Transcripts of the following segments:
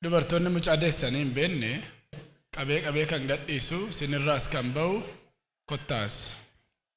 Dubartoonni mucaa deessanii hin beekne qabee qabee kan gadhiisu sinirraas kan ba'u kottaas.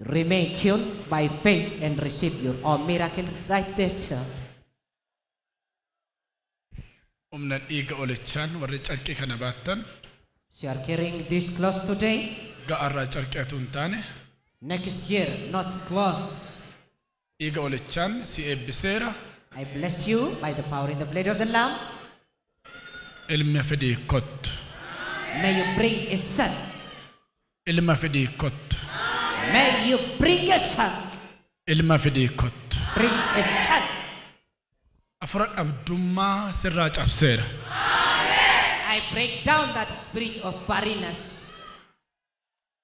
Remain tuned by faith and receive your own miracle right there too. Humna dhiiga olichaan warri carqii kana baattan. As you are carrying this clothes today. Waggaa arraa carqii atuu hin taane. Next year not clothes. Dhiiga olichaan si eebbiseera. I bless you by the power in the blood of the Lamb. Ilma fidii kottu. May you bring a son. Ilma fidii kottu. May you bring a son. Ilma fidii kottu. Bring a son. Afura dhabdummaa sirraa cabseera. I break down that spirit of barrenness.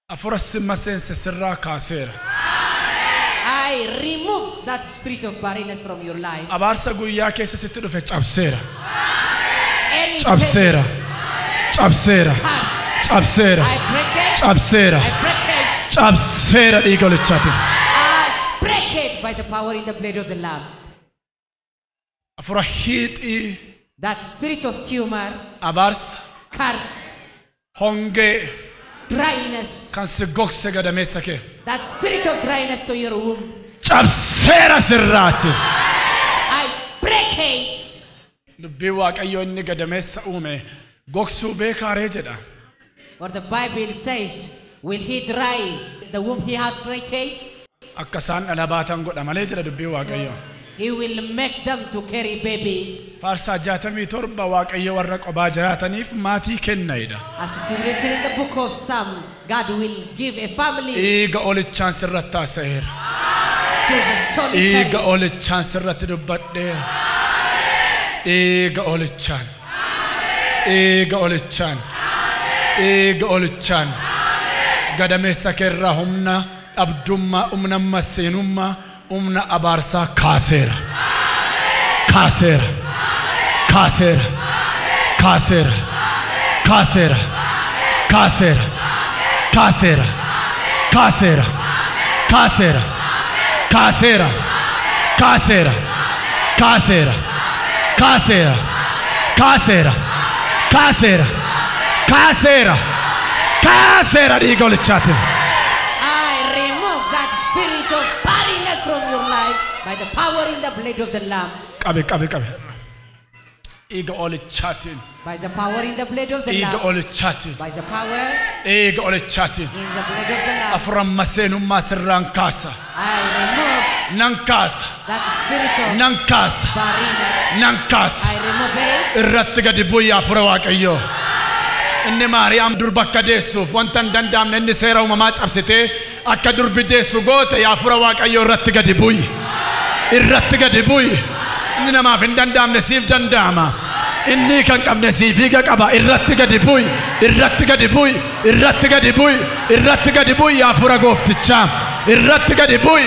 Afura si maseense sirraa kaaseera. I remove that spirit of barrenness from your life. Abaarsa guyyaa keessa sitti dhufe cabseera. Any Cabseera. table, Cabseera. curse, Cabseera. I break it. Cabseera. I break it. Cabseera dhiiga olichaatiif. I break it by the power in the blood of the Lamb. Afura hiixii. That spirit of tumor. Abaarsa. Curse. Hongee. Dryness. Kan si gogse gadameessa kee. That spirit of dryness to your womb. Cabseera sirraati. I break it. Dubbii Waaqayyoo inni gadameessa uume gogsuu beekaaree jedha. For the Bible says, Will he dry the womb he has created? Akka isaan dhala baatan godha malee jedha dubbiin Waaqayyoo. He will make them to carry baby. Faarsaa 67 Waaqayyo warra qobaa jiraataniif maatii kenna jedha. As it is written in the book of Psalm, God will give a family Dhiiga olichaan sirratti haasa'eera. to the Dhiiga solitary. olichaan sirratti dubbadheera. Dhiiga olichaan. dhiiga olichaan dhiiga olichaan gadameessa keerraa humna dhabdummaa humna masseenummaa humna abaarsaa kaaseera kaaseera kaaseera kaaseera kaaseera kaaseera kaaseera kaaseera kaaseera kaaseera kaaseera Kaaseera. Kaaseera. Kaaseera. Kaaseera. Kaaseera. Kaaseera dhiiga olichaatiin. I remove that spirit of barrenness from your life by the power in the blood of the Lamb. Qabe qabe qabe. Dhiiga olichaatiin. By the power in the blood of the Dhiiga Lamb. olichaatiin. By the power Dhiiga olichaatiin. in the blood of the Lamb. Afuran maseenummaa sirraan kaasa. I remove Nan kaasa. that spirit of Nan kaasa. barrenness. Nan kaasa. I remove it. Irratti gadi bu'ii hafuura waaqayyoo. Inni Maariyaam durba akka deessuuf wanta hin danda'amne inni seera uumamaa cabsitee Akka durbi deessu goote yaa fura waaqayyoo irratti gadi bu'i. Irratti gadi bu'i. Inni namaaf hin danda'amne siif danda'ama. Inni kan qabne siif hiika qaba. Irratti gadi bu'i. Irratti gadi bu'i. Irratti gadi bu'i. Irratti gadi bu'i yaa fura gooftichaa. Irratti gadi bu'i.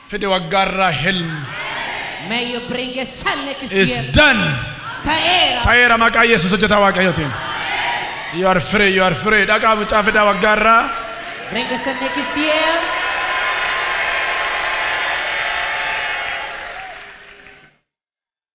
Fide waggaa irraa helm. May you bring a son next Is year. done. Ta'eera. Ta'eera maqaa Yesuus hojjetaa Waaqayyootiin. You are free, you are free. Dhaqaa mucaa fidaa waggaa irraa. Bring a son next year.